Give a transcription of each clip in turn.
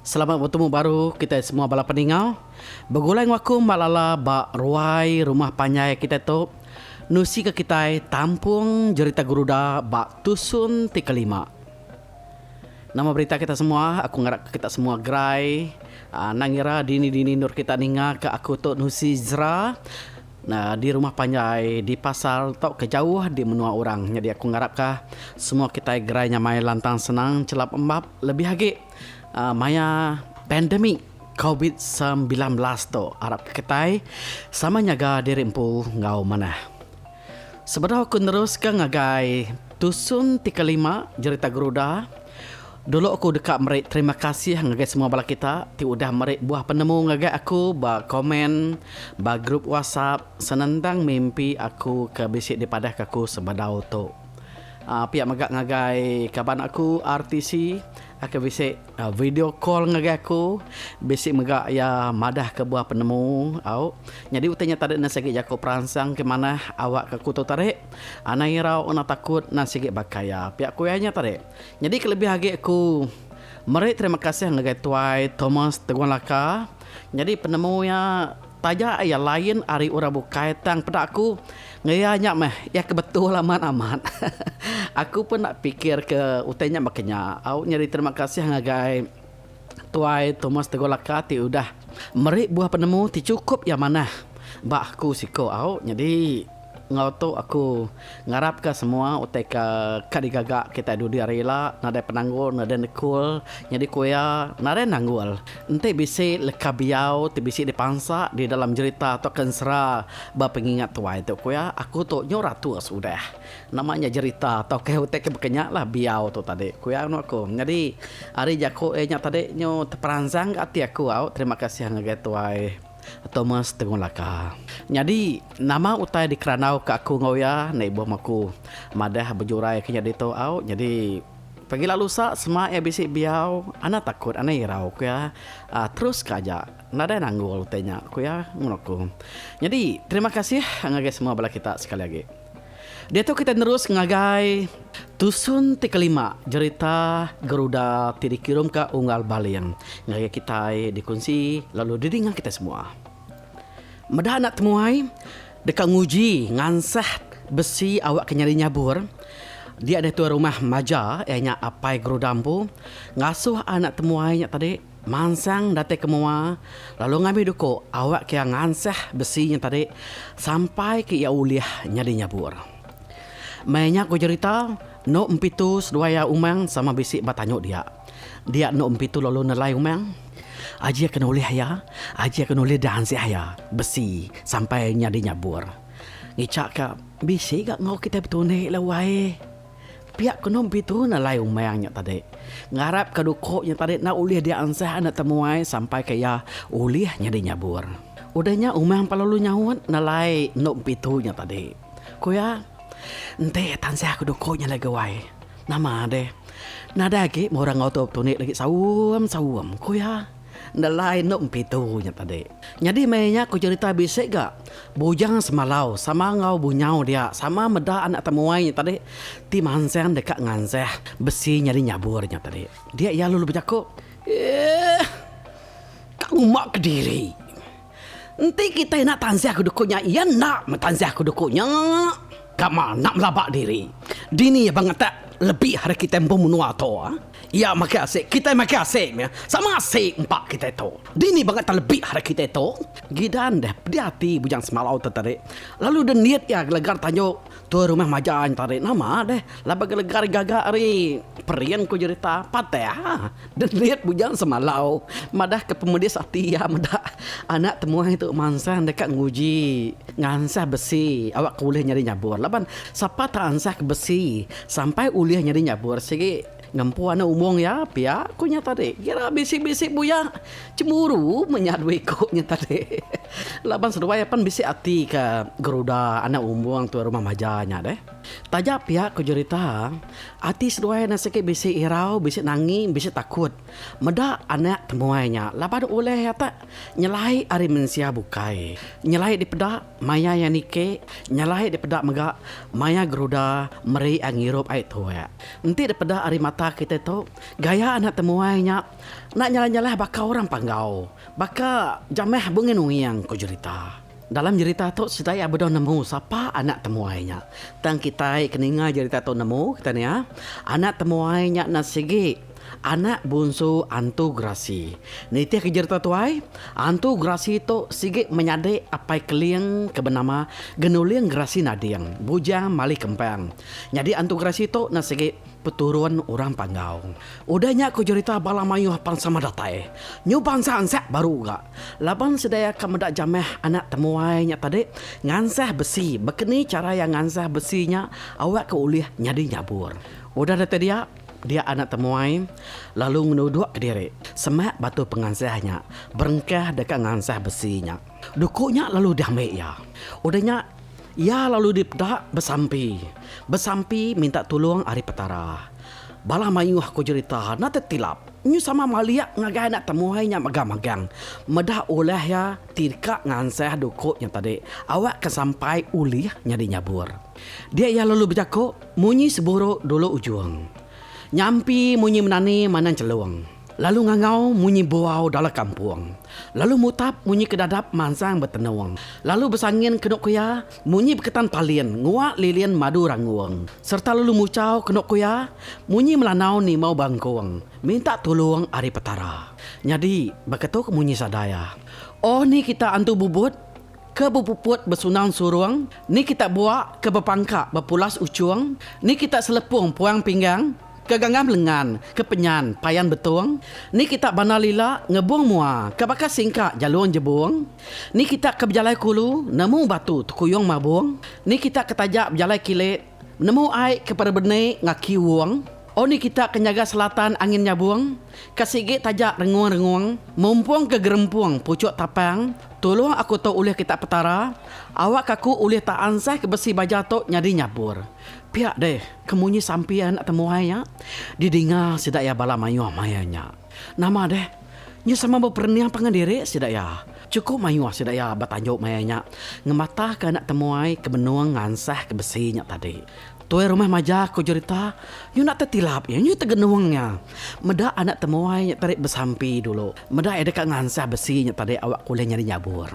Selamat betemu baru kitai semua bala peningau. Begulai enggau aku Mak Lala ba ruai rumah panjai kitai tu nusika kitai tampung jerita Guruda ba tusun ti kelima. Nama berita kita semua? Aku ngarapka kita semua gerai. Nang ira dini-dini endur kita ninga ka aku tu nusi jera. di rumah panjai, di pasar tauka jauh di menua orang. Nyadi aku ngarapka semua kitai gerai nyamai lantang senang chelap embap lebih agi maya pandemik covid semilan belas tu. Arapka kitai sama nyaga diri empu enggau manah. Sebedau aku neruska ngagai tusun ti kelima jerita Garuda. Dulu aku deka meri terima kasih ngagai semua bala kita ti udah meri buah penemu ngagai aku ba komen ba grup WhatsApp senentang mimpi aku ke bisi dipadahka aku sebedau tu. Aaa pia mega ngagai kaban aku RTC ke bisi video call ngagai aku bisi mega iya madahka buah penemu au. Nyadi utai nya tadi nan sigi jaku peransang ke manah awakka aku tu tadi. Anang irau, anang takut nan sigi baka iya. Pia ku iya nya tadi. Nyadi kelebih agi aku meri terima kasih ngagai Tuai Thomas Teguang Laka nyadi penemu iya taja iya lain ari orang bukai tang peda aku enggau iya nya meh iya ke betul amat amat aku pun enda pikir ke utai nya baka nya au nyadi terima kasih ngagai Tuai Thomas Teguang Laka ti udah meri buah penemu ti chukup iya manah ba aku siko au nyadi. Enggau tu aku ngarapka semua utai ke ka digaga kitai dudi hari ila nadai penanggul nadai nekul nyadi ku iya nadai nanggul enti bisi leka biau ti bisi dipansa di dalam jerita tauka ensera ba pengingat tuai tu ku iya aku tu nyau ratus udah nama nya jerita tauka utai ke baka nya lah biau tu tadi ku iya anu aku nyadi ari jaku iya nya tadi nyu teperansang ka ati aku au terima kasih ngagai tuai. Thomas Tegong Laka. Nyadi, nama utai dikerandauka aku enggau iya? Enda ibuh meh aku madah bejurai ke nya ditu au. Nyadi, pagila lusa sema iya bisi biau, enda takut, enda irau, ku iya. Teruska aja. Nadai nanggul utai nya, ku iya ngemuna aku. Nyadi, terima kasih ngagai semua bala kita sekali agi. Diatu kitai nerus ngagai tusun ti kelima jerita Geruda ti dikirumka Unggal Baling ngagai kitai dikunsi lalu didinga kitai semua. Meda anak temuai deka nguji ngansah besi awakka nyadi nyabur, dia diatu rumah maja iya nya Apai Geruda empu ngasuh anak temuai nya tadi. Mansang datai ke mua, lalu ngambi duku awak ke iya ngansah besi nya tadi sampai ke iya ulih nyadi nyabur. Meh nya ku jerita, enu empitu seduai iya umang sama bisi ba tanyu dia. Dia enu empitu lalu nelai umang. Aji ke nulih iya, aji ke nulih diansah iya besi sampai nyadi nyabur. Ngicha ka, bisi ga enggau kitai betunik la wai. Pia ke nom Petru nalai umang nya tadi, ngarap ke duko nya tadi enda ulih dia ansah enda temuai sampai ke iya ulih nyadi nyabur. Udah nya umang pa lalu nyaut nalai nom Petru nya tadi. Ku iya, Enti tansah ke duko nya alai guai, nama deh nadai agi murah enggau tu betunik lagi saum-saum, ku iya. Nelai endo empitu nya tadi. Nyadi meh inya ku jerita bisi ga Bujang Semalau sama enggau Bunyau dia sama meda anak temuai nya tadi ti mansang deka ngansah besi nyadi nyabur nya tadi. Dia iya lalu bejaku, Eeh. Ka ngumba kediri. Enti kitai enda tanzah ke duku nya iya enda metanzah ke duku nya kama enda melaba diri. Dini iya ba ngetak lebih ari kitai empu menua tu. Iya makai asik kitai makai asik meh sama asik empa kitai tu. Dini ba ngetak lebih ari kitai tu. Gidan deh pedih ati bujang semalau tu tadi lalu deh nit iya gelegar tanjung. Tua rumah majai enta ari nama deh laban gelega ari gaga ari Perin ku jerita Pateh ha dendit bujang semalau madah ke pemedis ati iya meda anak temuai tu mansang deka nguji ngansah besi awak ke ulih nyadi nyabur laban sapa tau ansah ke besi sampai ulih nyadi nyabur sigi Ngempu anak umung iya pia, ku nya tadi. Kira bisi-bisi buyak cemburu mun nya duwi ku nya tadi. Laban seduai apan bisi ati ke geruda anak umung tu rumah maja nya deh. Taja pia ku jerita, ati seduai ne sigi bisi irau, bisi nangi, bisi takut meda anak temuai nya laban ulih atak nyelai ari mensia bukai nyelai dipeda. Maya iya niki, nyalai dipeda mega maya geruda meri ai ngirup ai tuak. Enti dipeda ari mata kitai tu, gaya anak temuai nya enda nyalah-nyalah baka orang panggau, baka jamah bunging-unging, ku jerita. Dalam jerita tu sida iya bedau nemu sapa anak temuai nya. Tang kitai ke ninga jerita tu nemu kitai nia, anak temuai nya enda sigi. Anak bunsu Antu Gerasi. Nitihka jereta tuai, Antu Gerasi tu sigi menyadi Apai Keling ke benama Genuling Gerasi Nading, bujang Mali Kempang. Nyadi Antu Gerasi tu enda sigi peturun orang Panggau. Udah nya ku jerita bala mayuh pan sama datai nyuban seansak baru ga laban sedia ka meda jamah anak temuai nya tadi ngansah besi baka ni chara iya ngansah besi nya awakka ulih nyadi nyabur. Udah datai dia. Dia anak temuai lalu ngenuduk ke diri semak batu pengansah nya berengkah deka ngansah besi nya. Duku nya lalu diambi iya. Udah nya iya lalu dipeda besampi. Besampi minta tulung ari Petara. Bala mayuh ku jerita enda tetilap nyu sama malik ngagai anak temuai nya mega magang meda ulah iya ti deka ngansah duku nya tadi awakka sampai ulih nyadi nyabur. Dia iya lalu bejaku, Munyi seburuk dulu ujung. Nyampi munyi menani manang celung. Lalu ngangau munyi buau dalam kampung. Lalu mutap munyi ke dadap mansang betenung. Lalu besangin kenu kuya munyi beketan palin ngua lilin madu rangung. Serta lalu muchau kenu kuya munyi melanau nimau bangkung minta tulung ari Petara. Nyadi, baka tu ke munyi sadaya. Oh ni kita antu bubut. Ke bepuput besunang surung, ni kita buak ke bepangka bepulas uchung, ni kita selepung puang pinggang ke ganggam lengan ke penyan payan betung, ni kita bandar lila ngebung mua ke baka singka jalung jebung, ni kita ke bejalai kulu nemu batu tekuyung mabung, ni kita ke taja bejalai kilit Nemu ai ke perebeni ngaki wong. O ni kita ke nyaga selatan angin nyabung, ka sigi taja rengung-rengung, mumpung ke gerempung puchuk tapang, tulung aku tu ulih kita Petara, awak aku ulih ta ansah ke besi baja tu nyadi nyabur. Pia deh, ke munyi sampi anak temuai nya, di dinga sida iya bala mayuh maya nya. Nama deh? Nya sama beperening pangan diri sida iya. Chukup mayuh sida iya betanjuk maya nya ngematahka anak temuai ke benung ngansah ke besi nya tadi. Tuai rumah maja ku Jurita nyunak tetilap iya nyu tegenung iya meda anak temuai nya tadi besampi dulu meda iya deka ngansah besi nya tadi awak kulih nyadi nyabur.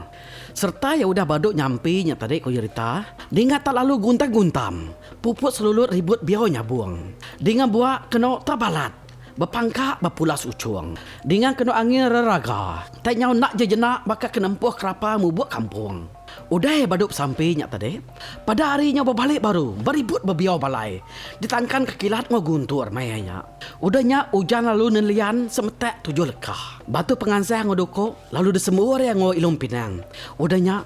Sereta iya udah badu nyampi nya tadi ku Jurita dinga tak lalu guntam-guntam puput selulut ribut biau nyabung dinga buak kenu tak balat. Bepangka ba pulas uchung. Dinga kenu angin reraga. Ntai nyau enda je jena baka ke nempuh kerapa mubuk kampung. Udah badu besampi nya tadi. Pada hari nyau bebali baru, beribut bebiau balai. Ditangkan ke kilat enggau guntur maya nya. Udah nya ujan lalu nelian semetak tujuh lekah. Batu pengansah enggau duku lalu disembur iya enggau ilung pinang. Udah nya.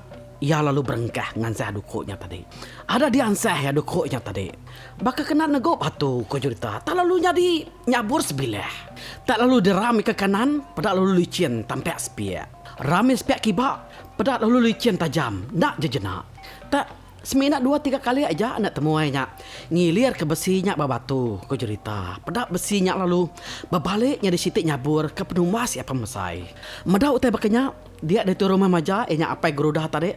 Iya lalu berengkah ngansah duku nya tadi. Ada diansah iya duku nya tadi. Baka kena negu batu, ku Julita. Tak lalu nyadi nyabur sebilah. Tak lalu diram ika kanan, peda lalu lichin tampak sepiak. Ram iya sepiak kiba, peda lalu lichin tajam. Enda jejena. Tak semina dua tiga kali aja anak temuai nya ngilirka besi nya ba batu, ku Julita. Peda besi nya lalu bebalik nyadi siti nyabur ke penumbas iya pemesai. Meda utai baka nya, Dia ditu rumah Maja iya nya Apai Gerudah tadi.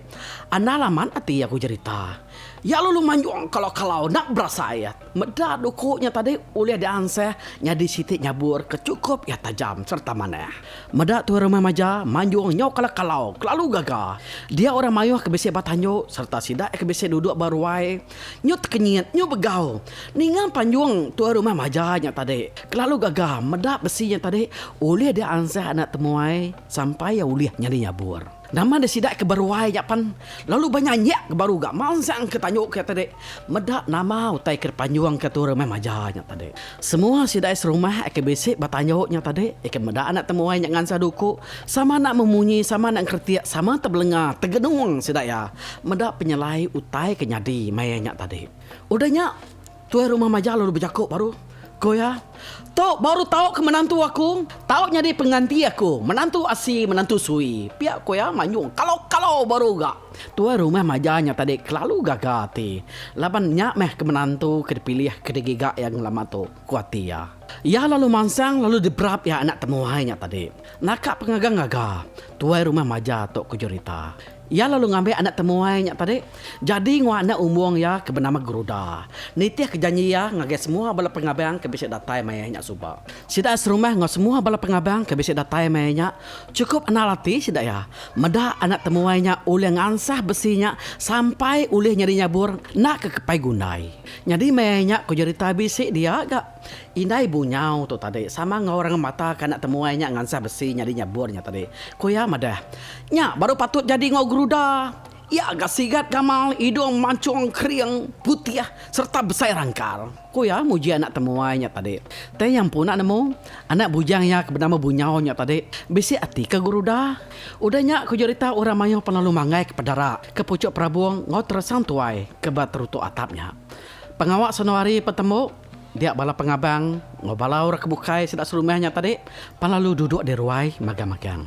Andal amat ati iya ku jerita. Iya lalu manjung kalau-kalau enda berasai meda duku nya tadi ulih diansah nyadi siti nyabur ke chukup iya tajam sereta manah. Meda tu rumah Maja manjung nyau kalau-kalau kelalu gaga. Dia orang mayuh ke bisi ba tandu sereta sida ke bisi duduk ba ruai nyu tekenyit nyu begau ninga panjung tua rumah Maja nya tadi kelalu gaga meda besi nya tadi ulih diansah anak temuai Sampai iya ulih nyadi nyabur. Nama nya sida ke beruai nya pan lalu benyanyik ke baru ga mansang ke tanyu ke tadi meda nama utai ke dipanjung ke tu rumah maja nya tadi. Semua sida serumah ke bisi betanyu nya tadi ke meda anak temuai nya ngansa duku sama enda memunyi sama enda engkretik sama tebelenga tegenung sida iya meda penyelai utai ke nyadi maya nya tadi. Udah nya. Tuai rumah majak lalu bejaku baru, ku iya, Tu baru tau ke menantu aku, tau nyadi penganti aku, menantu asi, menantu sui. Pia ku iya manyung kalau-kalau baru ga. Tuai rumah majak nya tadi kelalu gaga ati laban nya meh ke menantu ke dipilih ke digiga iya ngelama tu, ku ati iya. Iya lalu mansang lalu diberap iya anak temuai nya tadi. Naka pengaga-ngaga, tuai rumah majak tu ke jerita. Iya lalu ngambi anak temuai nya tadi jadi enggau anak umbung iya ke benama Geruda. Nitihka janji iya ngagai semua bala pengabang ke bisi datai mai nya suba. Sida serumah enggau semua bala pengabang ke bisi datai mai nya chukup anal ati sida iya meda anak temuai nya ulih ngansah besi nya sampai ulih nyadi nyabur enda ke kepai gundai. Nyadi mai nya ku jerita bisi dia ga. Indai Bunyau tu tadi sama enggau orang mata ke enda temuai nya ngansah besi nyadi nyebur nya tadi. Ku iya madah, Nya baru patut jadi enggau geruda. Iya ga sigat gamal, idung manchung kering, putih sereta besai rangkal. Ku iya muji anak temuai nya tadi. Tei iya empu enda nemu, anak bujang iya ke benama Bunyau nya tadi bisi ati ke geruda. Udah nya ku jerita orang mayuh pan lalu manggai ke pedara ke puchuk perabung enggau terasang tuai ke ba terutuk atap nya. Pengawa senohari pan tembu. Dia bala pengabang enggau bala orang ke bukai sida serumah nya tadi pan lalu duduk di ruai magang-magang.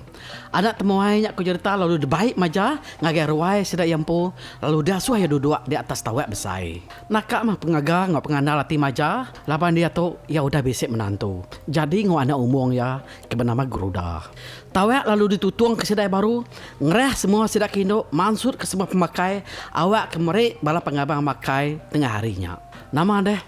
Anak temuai nya ku jerita lalu dibai maja ngagai ruai sida iya empu lalu diasuh iya duduk di atas tawak besai. Naka mah pengaga enggau pengandal ati maja laban diatu iya udah bisi menantu jadi enggau anak umung iya ke benama Guruda. Tawak lalu ditutung ke sida baru ngerah semua sida ke indu mansutka semua pemakai awakka meri bala pengabang makai tengah hari nya. Nama deh,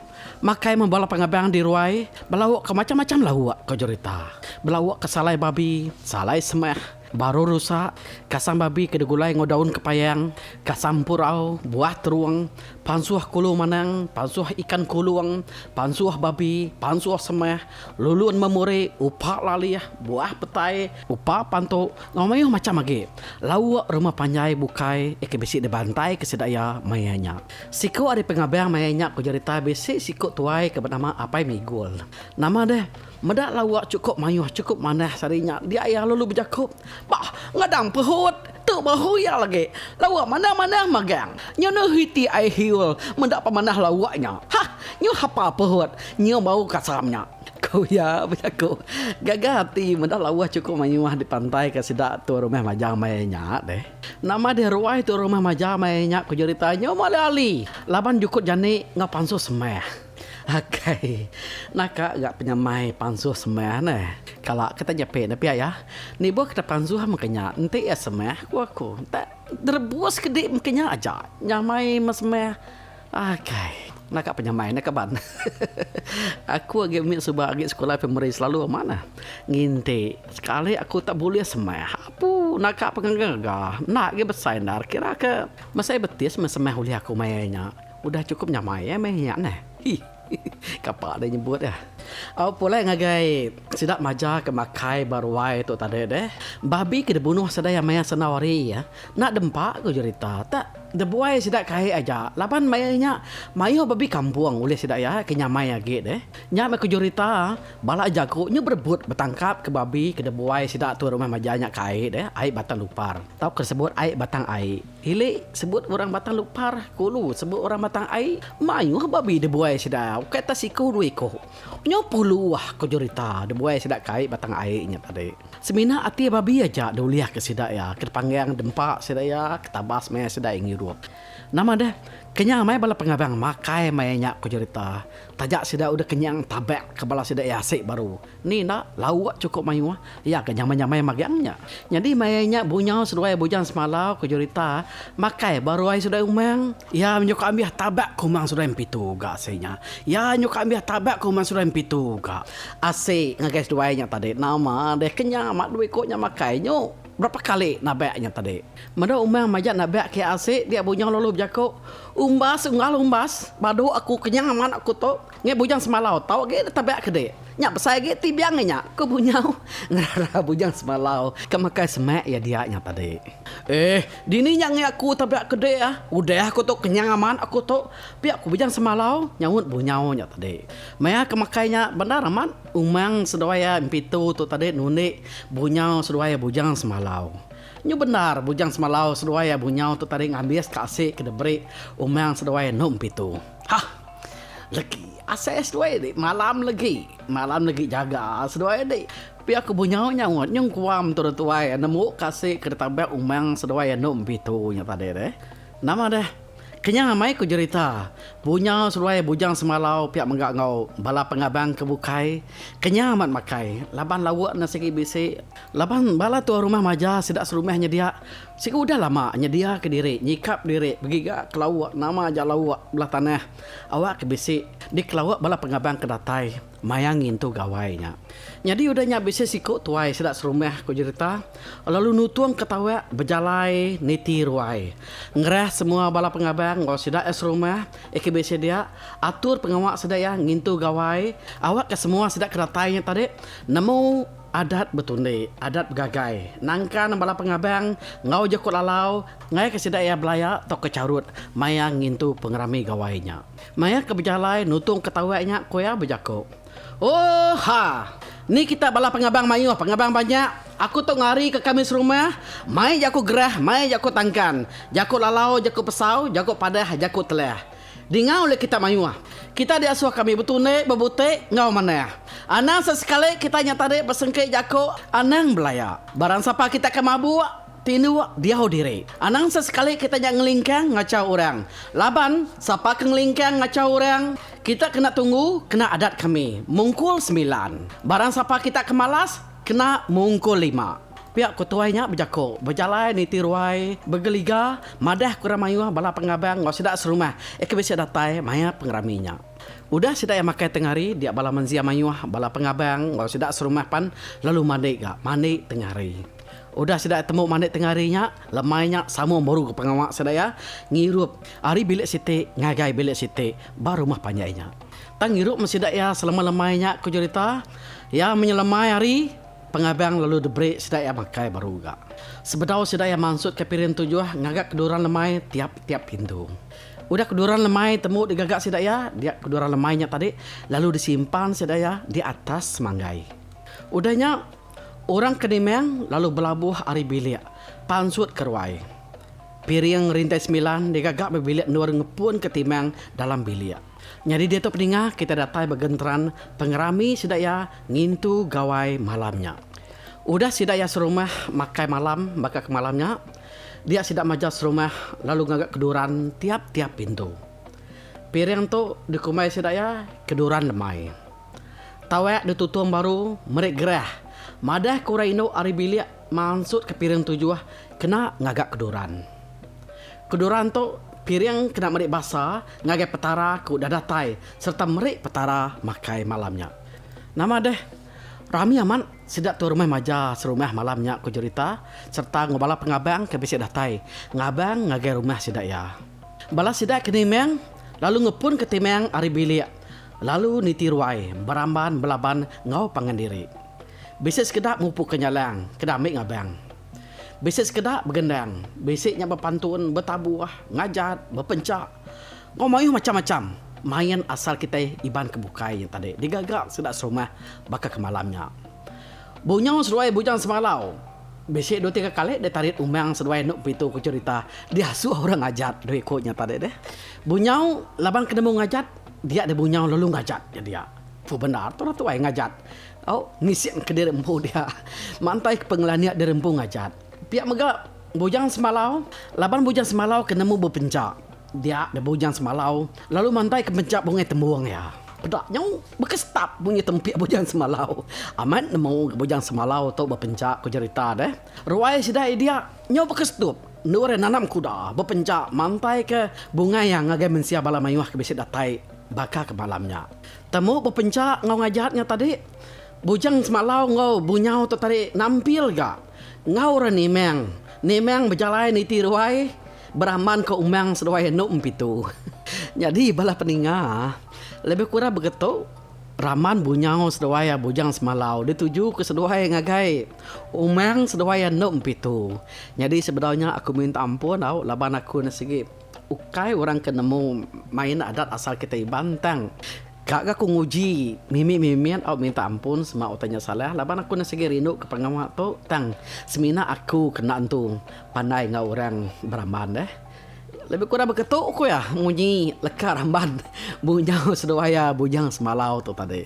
makai meh bala pengabang di ruai belauk ke macam-macam lauk, ko Jurita. Belauk ke salai babi, salai semeh, baru rusa, kasang babi ke digulai enggau daun kepayang, kasang empurau, buah terung, pansuh kulu manang, pansuh ikan kulung, pansuh babi, pansuh semeh, lulun memuri, upa lalih, buah petai, upa pantu enggau mayuh macam agi lauk rumah panjai bukai ke bisi dibantai ke sida iya maya nya. Siku ari pengabang maya nya ku jerita bisi siku tuai ke benama Apai Migul. Nama deh, meda lawa chukup mayuh chukup manah sehari nya dia iya lalu bejaku, Bah, ngadang pehut, tu bahu iya lagi. Lawa manah-manah magang. Nyu nuh iti ai hiul meda pemanah lawa nya. Hah, nyu hapa pehut, nyu bau kasam nya. Ku iya bejaku. Gaga ati meda lawa chukup mayuh dipantai ke sida tu rumah majang maya nya deh. Nama deh ruai tu rumah maja meh nya ku jerita nyu meh ali-ali laban jukut jani enggau pansuh semeh. Agai naka ga penyamai pansuh semeh neh kala kita nyepi ne pia iya nibuh kita pansuh meh kenya enti iya semeh ku aku enta direbus kedi meh kenya aja nyamai meh semeh. Akai. Naka penyamai ne kaban. Aku agi mit suba agi sekula primari selalu amat ne nginti sekali aku tak bulih semeh apu naka pengaga ngaga enda agi besai endar kira ke mesai betis meh semeh ulih aku maya nya udah cukup nyamai meh nya neh. Hi. Kapa deh nyebut deh. Au pulai ngagai sida maja ke makai ba ruai tu tadi deh. Babi ke dibunuh sida iya maya sendau hari iya enda dempa ku jerita tu. Dibuai sida kai aja laban maya inya mayuh babi kampung ulih sida iya ke nyamai agi deh. Nya meh ku jerita bala jaku nyu berebut betangkap ke babi ke dibuai sida tu rumah maja nya kai deh, ai Batang Lupar tauka disebut ai Batang Ai. Ili, sebut orang Batang Lupar, Kulu, sebut orang Batang Ai, mayuh babi dibuai sida, ukai ta siku dua iku. Nyau puluh ko jerita dibuai sida ke ai Batang Ai nya tadi. Semina ati babi aja diulihka sida iya, ke dipanggang dempa sida iya, ke tabas maya sida iya ngirup. Nama deh, kenyang meh bala pengabang makai maya nya ko jerita. Taja sida udah kenyang tabak ke bala sida iya asik baru. Ni enda, lauk chukup mayuh, iya ke nyamai-nyamai magang nya. Nyadi maya nya bunyau seduai bujang semalau ke jurita makai ba ruai seduai umang. Iya nyuka ambih tabak ke umang seduai empitu ga asai nya. Iya nyuka ambih tabak ke umang seduai empitu ga. Asi ngagai seduai nya tadi nama deh ke nya ma dua iko nya makai nyu berapa kali nabak nya tadi. Meda umang majak nabak ke asi dia bunyau lalu bejaku, Umbas unggal umbas, badu aku kenyang amat aku tu. Ngi Bujang Semalau, tau agi deka biak kedi. Nya besai agi ti biang ngi nya, ku Bunyau ngerara Bujang Semalau ke makai semak iya dia nya tadi. Eh, dini nya ngi aku deka biak kedi ah. Udah aku tu kenyang amat aku tu, pia ku Bujang Semalau, nyaut Bunyau nya tadi. Maya ke makai nya bendar amat umang seduai iya Empitu tu tadi nundi Bunyau seduai iya Bujang Semalau. Nyu bendar Bujang Semalau seduai iya Bunyau tu tadi ngambis ka asi ke diberi umang seduai endu Empitu. Hah. Legi asai seduai dik malam legi malam legi jaga seduai dik pia aku benyau nyaut nyung kuam tu tuai nemu kasik ke ditabak umang seduai anu empitu nya tadi deh nama deh kenyang amai ku jerita bunyau seduai bujang semalau pia mega enggau bala pengabang ke bukai kenyang amat makai laban lauk ne sigi bisi laban bala tuai rumah maja sida serumah nyedia Siku udah lama nyediaka diri nyikap diri begiga kelauk nama ja lauk belah tanah awak ke bisi dikelauk bala pengabang ke datai maya ngintu gawai nya. Nyadi udah nya bisi siku tuai sida serumah ku jerita lalu nutung ke tawak bejalai niti ruai ngerah semua bala pengabang enggau sida iya serumah iya ke bisi dia atur pengawa sida iya ngintu gawai awak ke semua sida ke datai nya tadi nemu Adat betundi, adat begagai, nangka nembala pengabang enggau jeku lalau ngaika sida iya belaya tauka charut maya ngintu pengerami gawai nya. Maya ke bejalai nutungka tauai nya ku iya bejaku, Ooh ha! Ni kita bala pengabang mayuh, pengabang banyak. Aku tu ngarika kami serumah, mai jaku gerah, mai jaku tangkan, jaku lalau, jaku pesau, jaku padah, jaku telah. Dinga ulih kita mayuh. Kitai diasuh ka mih betundi, bebutik, enggau manah. Anang sesekali kitai nya tadi besengki jaku anang belaya. Barang sapa kitai ke mabuk, tinduk, diau diri. Anang sesekali kitai nya ngelingkang ngachau orang. Laban, sapa ke ngelingkang ngachau orang, kita kena tunggu kena adat kami, Mungkul Semilan. Barang sapa kita ke malas, Kena mungkul lima. Pia ku tuai nya bejaku, bejalai niti ruai begeliga madah ke orang mayuh bala pengabang enggau sida serumah iya ke bisi datai maya pengerami nya. Udah sida iya makai tengah hari, dia bala menzia mayuh bala pengabang enggau sida serumah pan lalu mandi ga mandi tengah hari. Udah sida iya tembu mandi tengah hari nya, lemai nya sama meru pengawa sida iya ngirup ari bilik siti ngagai bilik siti ba rumah panjai nya. Tang irup meh sida iya selemai-lemai nya ku Jurita. Iya menyelemai ari pengabang lalu deberi sida iya makai baru ga. Sebedau sida iya mansut ka piring tujuh ngaga keduran lemai tiap-tiap pintu. Udah keduran lemai tembu digaga sida iya dia keduran lemai nya tadi lalu disimpan sida iya di atas semanggai. Udah nya orang ke nimang lalu belabuh ari bilik pansut ke ruai. Piring rintai semilan digaga meh bilik endur ngepun ke timang dalam bilik. Nyadi diatu peningah kitai datai ba genteran pengerami sida iya ngintu gawai malam nya. Udah sida iya serumah makai malam baka ke malam nya, dia sida majau serumah lalu ngaga keduran tiap-tiap pintu. Piring tu dikumbai sida iya keduran lemai. Tawek ditutung baru meri gerah madah ke orang indu ari bilik mansutka piring tujuh kena ngaga keduran. Kedurang tu piring kena meri basa ngagai Petara ku udah datai sereta meri Petara makai malam nya. Nama deh, rami amat sida tu rumah maja serumah malam nya ku Jurita sereta enggau bala pengabang ke bisi datai ngabang ngagai rumah sida iya. Bala sida ke nimang lalu ngepunka timang ari bilik lalu niti ruai beramban belaban enggau pangan diri. Bisi sekeda mupuka nyalang keda ambi ngabang. Bisi sekeda begendang, bisi nya bepantun, betabuh, ngajat, bepenchak enggau mayuh macham-macham main asal kitai Iban ke bukai nya tadi digaga sida serumah baka ke malam nya. Bunyau seduai Bujang Semalau bisi dua tiga kali ditarit umang seduai enda bepitu ku cherita diasuh orang ngajat diri ku nya tadi deh. Bunyau laban ke nemu ngajat dia deh bunyau lalu ngajat nya dia. Fu bendar tu orang tuai ngajat. Au, ngisik ke diri empu dia. Mantai ke pengelandik diri empu ngajat. Pia mega Bujang Semalau. Laban Bujang Semalau ke nemu bepenca dia nya Bujang Semalau lalu mantai ke penca bungai tembung iya. Peda nyu baka stap munyi tempik Bujang Semalau. Amat nemu ke Bujang Semalau tu bepenca ku jerita deh. Ruai sida iya dia nyu baka stup endur iya nanam kuda bepenca mantai ke bungai iya ngagai mensia bala mayuh ke bisi datai baka ke malam nya. Temu bepencha enggau ngajat nya tadi. Bujang semalau enggau bunyau tu tadi nampil ga enggau orang Nimang. Nimang bejalai niti ruai beramban ke umang seduai anu empitu. Nyadi bala peninga lebih kurang begetu ramban bunyau seduai bujang semalau dituju ke seduai ngagai umang seduai anu empitu. Nyadi sebedau nya aku minta ampun au laban aku enda sigi. Ukai orang ke nemu main adat asal kitai Iban tang ka ga ku nguji mimit mimit au minta ampun sema utai nya salah laban aku enda sigi rindu ke pengawa tu tang semina aku kena entu pandai enggau orang beramban deh lebih kurang baka tu ku iya munyi leka ramban bunyau seduai iya bujang semalau tu tadi.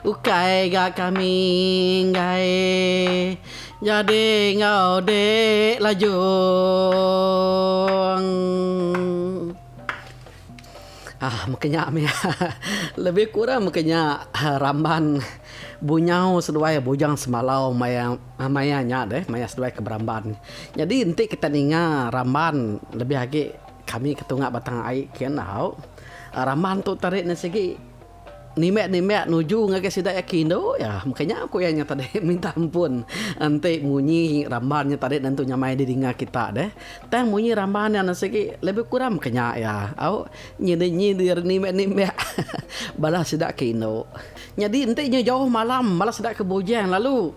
Ukai ga kami enggai nyadi enggau dek lajong. Aah meka nya meh lebih kurang meka nya ramban bunyau seduai bujang semalau maya maya nya deh maya seduai ke beramban. Nyadi enti kita ninga ramban lebih agi kami ke tunga batang ai kian au ramban tu tarik ne sigi. Nimbek-nimbek nuju ngagai sida iya ke indu iya. Maka nya ku iya nya tadi minta ampun enti munyi ramban nya tadi nentu nyamai di dinga kita deh. Tang munyi ramban nya enda sigi lebih kurang maka nya iya. Au nyidir-nyidir nimbek-nimbek bala sida ke indu. Nyadi enti nya jauh malam bala sida ke bujang lalu.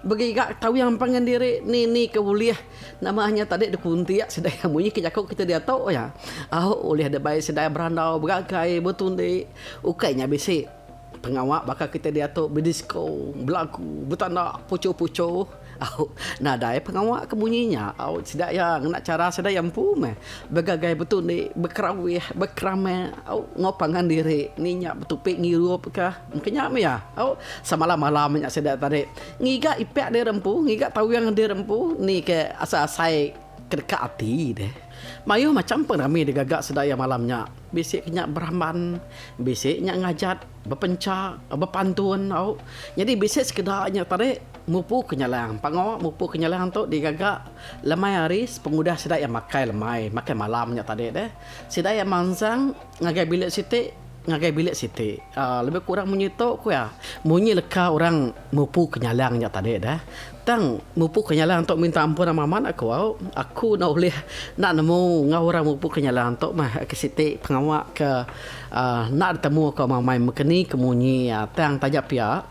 Begiga tawing pangan diri nini ke ulih nama nya tadi dikuntik sida iya munyi ke jaku kita diatu iya au ulih dibai sida berandau begagai betundi ukai nya bisi pengawa baka kita diatu bedisko belagu betanda puchu-puchu au nadai pengawa ke munyi nya au sida iya ngena chara sida iya empu meh begagai betundi bekerawih bekeramik au enggau pangan diri ni nya betupi ngirup ka. Engkanya mia, au, samalam-malam nya sida tadi ngiga ipak diri empu, ngiga tawing diri empu ni ke asai-asai ke deka ati deh. Mayuh macham pengerami digaga sida iya malam nya. Bisi ke nya beramban, bisi nya ngajat, bepencha, bepantun, au. Nyadi bisi sekeda nya tadi mupu ke nyalang. Pangawa mupu ke nyalang tu digaga lemai hari pengudah sida iya makai lemai, makai malam nya tadi deh. Sida iya mansang. Ngagai bilik siti, ngagai bilik siti. Aaa lebih kurang munyi tu ku iya. Munyi leka orang mupu ke nyalang nya tadi deh. Tang mupu ke nyalang tu minta ampun amat amat aku au. Aku enda ulih enda nemu enggau orang mupu ke nyalang tu meh ke siti pengawa ke aaa enda ditemu aku amai amai meka ni ke munyi iya. Tang taja pia.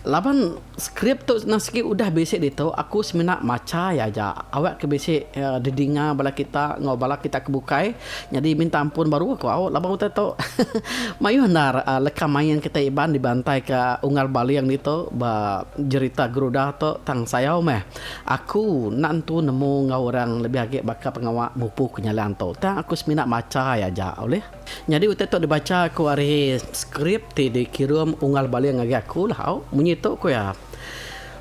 Laban skrip tu senang sigi udah bisi ditu aku semina macha iya aja awak ke bisi didinga bala kita enggau bala kita ke bukai nyadi minta ampun baru aku au laban utai tu mayuh endar leka main kita Iban dibantai ke Unggal Baling ditu ba jerita Garuda tu tang sayau meh aku enda entu nemu enggau orang lebih agi baka pengawa mupu ke nyalan tu tang aku semina macha iya aja ulih. Nyadi utai tu dibacha aku ari skrip ti dikirum Unggal Baling ngagai aku lah au. Munyi tu ku iya,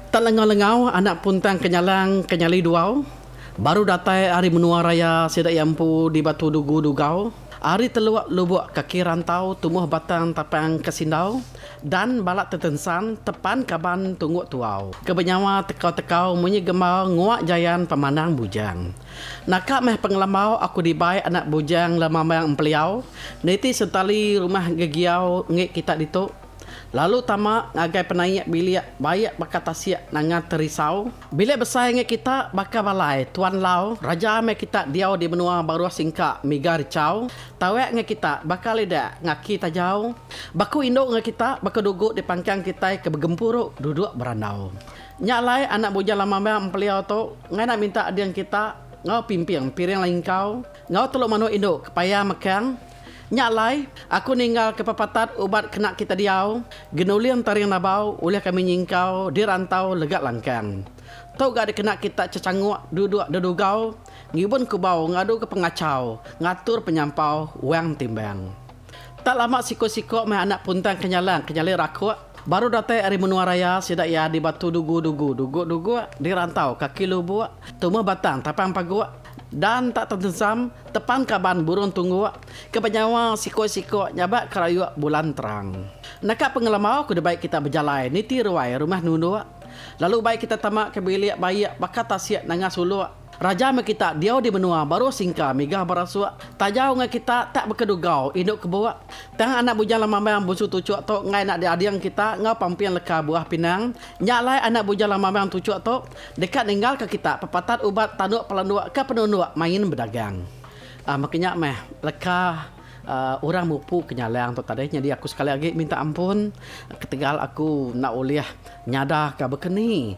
Tak lengau-lengau anak puntang ke nyalang ke nyali duau, baru datai ari menua raya sida iya empu di Batu Dugu Dugau, ari teluk lubuk kaki rantau tumuh batang tapang ke sindau dan balat tetensan tepan kaban tungguk tuau ke benyawa tekau-tekau munyi gembau nguak jayan pemandang bujang. Naka meh pengelambau aku dibai anak bujang lemambang empeliau niti sentali rumah gegiau enggi kita ditu. Lalu tama ngagai penaik bilik baik baka tasik nanga terisau. Bilik besai enggi kita baka balai tuan lau raja meh kita diau di menua baruh singka miga rechau tawek enggau kita baka lidak ngaki tajau. Baku indu enggau kita baka dugu dipangkang kitai ke begempuru duduk berandau. Nya alai anak Bujang Lamamang Empeliau tu ngainlah minta ading kita enggau Pimping, Piring Lingkau, enggau telu manuk indu ke payah mekang. Nya alai, aku ninggalka pepatat ubat kena kita diau, Genuling Taring Nabau ulih kami nyingkau di rantau Legat Langkang. Tu ga dikena kita cecanguk duduk dedugau ngibun kubau ngaduka pengachau ngatur penyampau wang timbang. Tak lama siku-siku meh anak Puntang Kenyalang ke nyali rakuk Baru datai ari menua raya sida iya di Batu Dugu Dugu Duguk Duguk di Rantau Kaki Lubuk Tumah Batang Tapang Paguk Dan tak tentensam Tepan Kaban Burung Tungguk Ke benyawa Sikok Sikok Nyabak Kerayuk Bulan Terang Naka pengelambau ku dibai kita bejalai niti ruai rumah nunduk Lalu ubai kita tama ke bilik baik baka tasik nanga suluk Raja meh kita diau di menua baru singka migah barasuk. Taja ungai kita tak beka dugau indu kebuk. Tang anak bujang Lamambang Busu Tuchuk tu enggau anak diading kita enggau pamping leka buah pinang. Nya alai anak bujang Lamambang Tuchuk tu deka ninggalka kita pepatat ubat tanduk pelanduk ke penunduk main bedagang. Aaa baka nya meh leka aaa orang mupu ke nyalang tu tadi nyadi aku sekali agi minta ampun ketegal aku enda ulih nyadaka baka ni.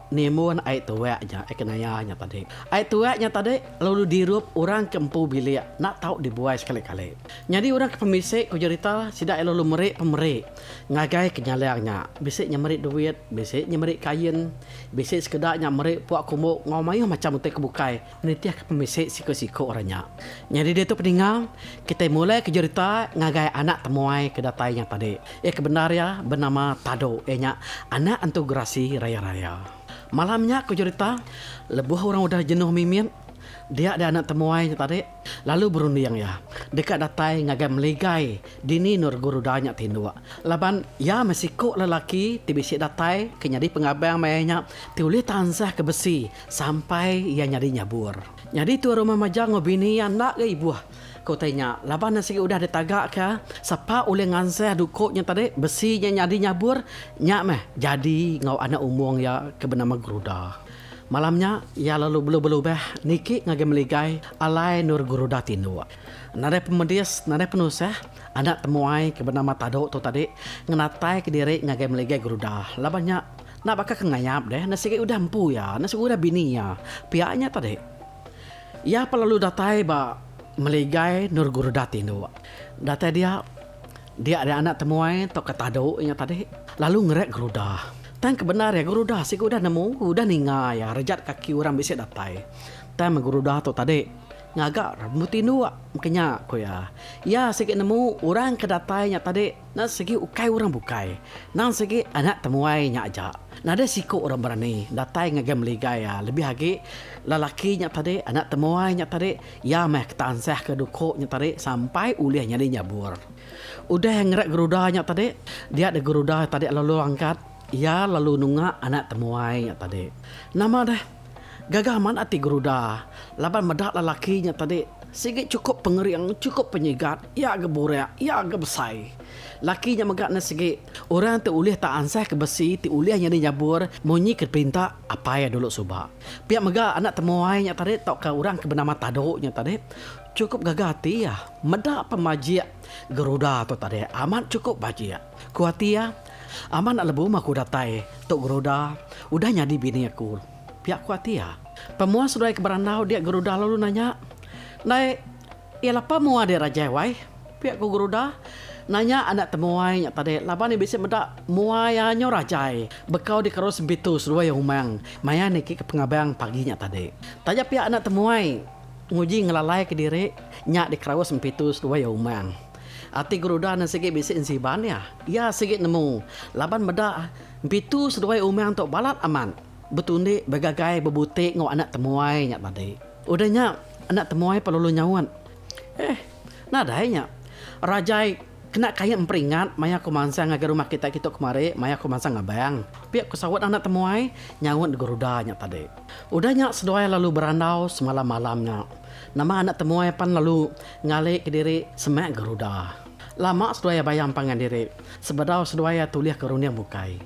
Nimbun ai tuak nya, ai kenaya nya tadi. Ai tuak nya tadi lalu dirup orang ke empu bilik enda tau dibuai sekali-kali. Nyadi orang ke pemisi ku jerita sida iya lalu meri pemeri ngagai ke nyalang nya. Bisi nya meri duit, bisi nya meri kain, bisi sekeda nya meri puak kumbok enggau mayuh macham utai ke bukai. Nitihka pemisi siku-siku orang nya. Nyadi diatu peninga, kitai mulai ke jerita ngagai anak temuai ke datai nya tadi. Iya ke bendar iya benama Tado, iya nya anak entu gerasi raya-raya. Malam nya ku jerita, lebuh orang udah jenuh mimit, dia dia anak temuai nya tadi lalu berunding iya deka datai ngagai meligai dini Nurguru Da nya tinduk laban iya meh siku lelaki ti bisi datai ke nyadi pengabang maya nya ti ulih tansahka besi Sampai iya nyadi nyabur. Nyadi tuan rumah majak enggau bini iya enda ga ibuh ke utai nya laban iya sigi udah ditaga ka sapa ulih ngansah duko nya tadi besi nya nyadi nyabur nya meh jadi enggau anak umong iya ke benama Guruda. Malam nya iya lalu belubah-lubah niki ngagai meligai alai endur Guruda tinduk. Nadai pemedis nadai penusah anak temuai ke benama Tadok tu tadi ngenatai ka diri ngagai meligai Guruda laban nya Enda baka ke ngayap deh, enda sigi udah empu iya, enda sigi udah bini iya. Pia nya tadi. Iya pa lalu datai ba meligai endur guruda ti indu. Datai dia, dia ari anak temuai tauka tadu inya tadi, lalu ngeret guruda. Tang ke bendar iya guruda sigi udah nemu, udah ninga iya rejat kaki orang bisi datai. Tang meh guruda tu tadi ngaga rembu ti indu maka nya ku iya. Iya sigi nemu orang ke datai nya tadi. Nang segi ukai urang bukai. Nang segi anak temuai nya aja. Nadai siku urang berani datai ngagai meligai iya lebih agi lelaki nya tadi anak temuai nya tadi iya meh ke tansah ke duku nya tadi sampai ulih nyadi nyabur. Udah ngeret geruda nya tadi dia deh geruda tadi lalu angkat iya lalu nunga anak temuai nya tadi. Nama deh. Gaga amat ati Geruda laban meda lelaki nya tadi sigi chukup pengering, chukup penyigat, iya agi burak, iya agi besai. Lelaki nya mega ne sigi, Orang ti ulih tak ansah ke besi ti ulih nyadi nyabur munyi ke diperinta apai iya dulu suba. Pia mega anak temuai nya tadi tauka orang ke benama Tadu nya tadi chukup gaga ati iya meda pemajik Geruda tu tadi. Amat chukup bajik. Ku ati iya, Amat enda lebuh maku datai tu Geruda udah nyadi bini aku. Pia ku ati iya. Pemuah seduai ke berandau dia Geruda lalu nanya, Ndai iya lapa mua dia Rajai wai? Pia ku Geruda, Nanya enda temuai nya tadi laban iya bisi meda mua iya nyu Rajai bekau dikerus Bitu seduai Umang maya niki ke pengabang pagi nya tadi. Taja pia enda temuai. Nguji ngelalaika diri nya dikeraus Empitu seduai iya umang. Ati Geruda enda sigi bisi ensiban iya. Iya sigi nemu laban meda Empitu seduai umang tu balat amat betundi begagai bebuti enggau anak temuai nya tadi. Udah nya, anak temuai pelalu nyaut, Eh, nadai nya. Rajai. Kena kaie emperingat maya aku mansang ngagai rumah kita kitu kemari maya aku mansang abang. Pia aku saut anak temuai nyaut di geruda nya tadi. Udah nya seduai lalu berandau semalam malam nya. Nama anak temuai pan lalu ngali ke diri semak geruda. Lama seduai bayam pangan diri sebedau seduai tulih ke runding bukai.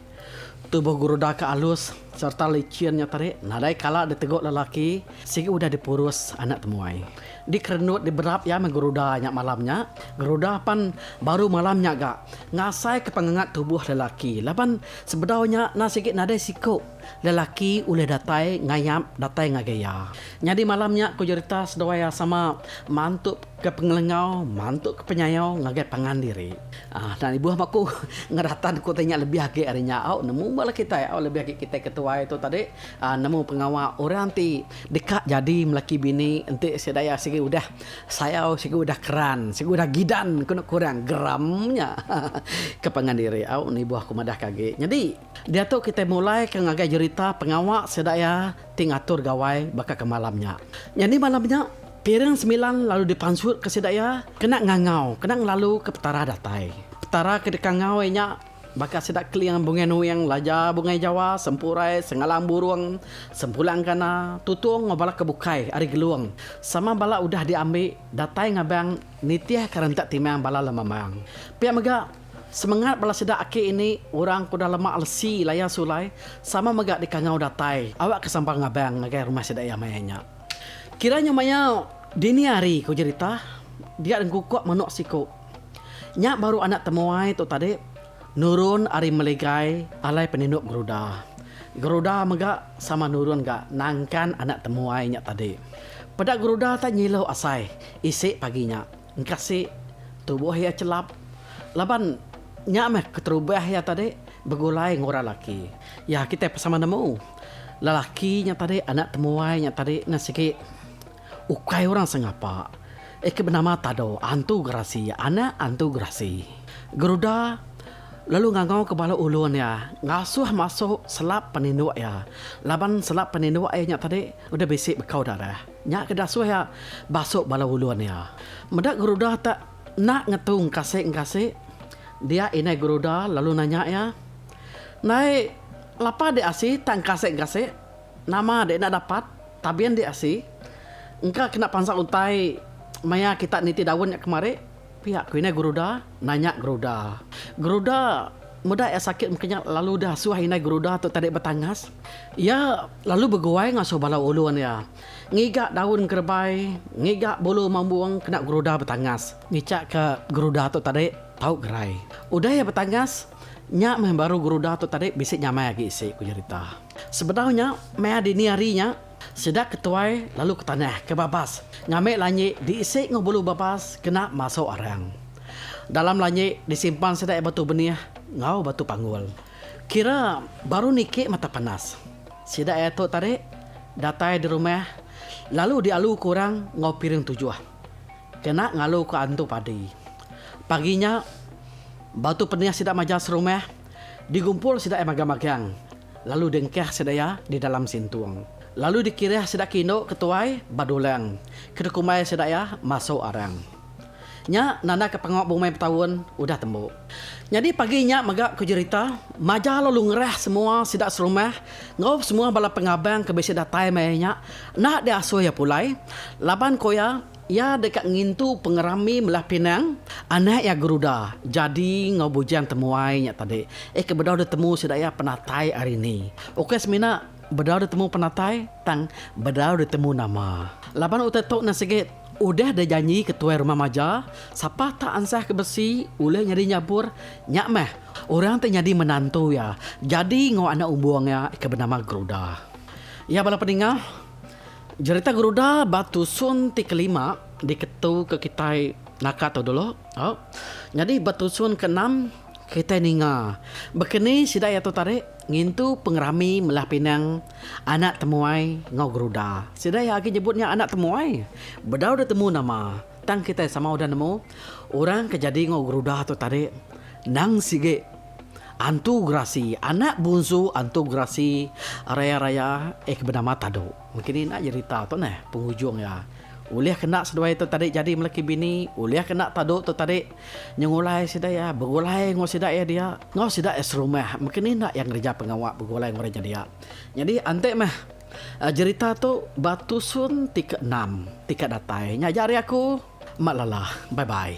Tubuh Guruda ke alus sereta licin nya tadi nadai kala diteguk lelaki sigi udah dipurus anak temuai. Dikerenut diberap iya meh Guruda nya malam nya. Guruda pan baru malam nya ga ngasaika pengangat tubuh lelaki laban sebedau nya endang sigi nadai siku lelaki ulih datai ngayap datai ngagai iya. Nyadi malam nya ku jerita seduai iya sama mantuka pengelengau, mantuka penyayau ngagai pangan diri. Nan ibuh maku ngeratan ku ti nya lebih agi ari nya au nemu ba laki kitai au lebih agi kitai ke tuai tu tadi aaa nemu pengawa orang ti deka jadi melaki bini enti sida iya sigi udah sayau sigi udah keran sigi udah gidan ku neka orang geram nya ke pangan diri au ni ibuh ku madah ke agi nyadi diatu kitai mulai ke ngagai jerita pengawa sida iya ti ngatur gawai baka ke malam nya nyadi malam nya. Piring semilan lalu dipansutka sida iya kena ngangau kena ngelaluka Petara datai. Petara ke deka ngau iya nya baka sida keling bungai nuing, laja bungai jawa, sempurai, sengalang burung, sempulang kana, tutung enggau bala ke bukai ari Gelung sama bala udah diambi datai ngabang nitihka rentak timang bala lemamang. Pia mega, semengat bala sida aki ini orang ke udah lema lesi layan sulai sama mega deka ngau datai awakka sambal ngabang ngagai rumah sida iya maya nya. Kira nya maya dini hari ku jerita dia dengkukuk manuk siku. Nya baru anak temuai tu tadi nurun ari meligai alai peninduk geruda. Geruda mega sama nurun ga nangkan anak temuai nya tadi. Peda geruda tak nyilu asai isi pagi nya. Engkasi tubuh iya chelap laban nya meh keterubah iya tadi begulai enggau orang lelaki. Ya kitai pun sama nemu. Lelaki nya tadi anak temuai nya tadi ne sigi ukai orang sengapa iya ke benama Tado, antu gerasi, anak antu gerasi. Geruda lalu ngangau ke bala ulun iya ngasuh masuk selap peninduk iya laban selap peninduk iya nya tadi udah bisi bekau darah. Nya ke dasuh iya basuk bala ulun iya. Meda Geruda tak nak ngetu engkasik engkasik dia indai Geruda lalu nanya iya, Ndai lapa dik asi tak engkasik engkasik? Nama dik enda dapat tabin dik asi? Engka kena pansa utai maya kita niti daun nya kemari? Pia ku indai Geruda nanya Geruda. Geruda meda iya sakit mungkin nya lalu dasuh indai Geruda tu tadi betangas. Iya. Lalu beguai ngasuh bala ulun iya ngiga daun kerebai, ngiga bulu mambung kena geruda betangas. Ngichak ka geruda tu tadi tau gerai. Udah iya betangas, nya meh baru geruda tu tadi bisi nyamai agi isi, ku Jerita. Sebedau nya, maya dini hari nya, sida ke tuai lalu ke tanah ke babas ngambi lanyi diisi enggau bulu babas kena masuk arang. Dalam lanyi disimpan sida iya batu benih enggau batu panggul. Kira baru niki mata panas. Sida iya tu tadi datai di rumah lalu dialu ku orang enggau piring tujuh. Kena ngalu ku antu padi. Pagi nya batu penih sida maja serumah digumpul sida iya magang-magang lalu diengkah sida iya di dalam sintung. Lalu dikirih sida ke indu ke tuai ba dulang ke dikumbai sida iya masuk arang. Nya nandaka pengawa bumai betaun udah tembu. Nyadi pagi nya mega ku jerita, Maja lalu ngerah semua sida serumah enggau semua bala pengabang ke bisi datai maya nya enda diasuh iya pulai laban ku iya, iya deka ngintu pengerami melah pinang anak iya Geruda, Jadi enggau Bujang Temuai nya tadi eh ke bedau ditemu sida iya penatai ari ni. Ukai semina bedau ditemu penatai tang bedau ditemu nama laban utai tu nan sigi. Udah da janji ke tuai rumah maja, sapa tak ansah ke besi ulih nyadi nyabur, nya meh orang ti nyadi menantu iya jadi enggau anak umbung iya ke benama Geruda. Iya bala peningah, jerita Geruda ba tusun ti kelima diketu ke kitai naka tu dulu. Au, nyadi ba tusun keenam kitai ninga baka ni sida iya tu tarik. Ngintu pengerami melah pinang anak temuai enggau geruda. Sida iya agi nyebut nya anak temuai. Bedau deh temu nama, tang kitai sama udah nemu orang ke jadi enggau geruda tu tadi. Endang sigi, Antu Gerasi, anak bunsu Antu Gerasi Raya Raya eh ke benama Tadu. Mengkini enda jerita tu neh pengujung iya. Ulih kena seduai tu tadi jadi melaki bini, ulih kena Tadu tu tadi Nyengulai sida iya begulai enggau sida iya dia. Enggau sida iya serumah. Mungkin enda iya ngereja pengawa begulai enggau orang nya dia. Nyadi enti meh jerita tu ba tusun ti ke enam ti ka datai. Nya aja ari aku. Mak lala. Bye bye.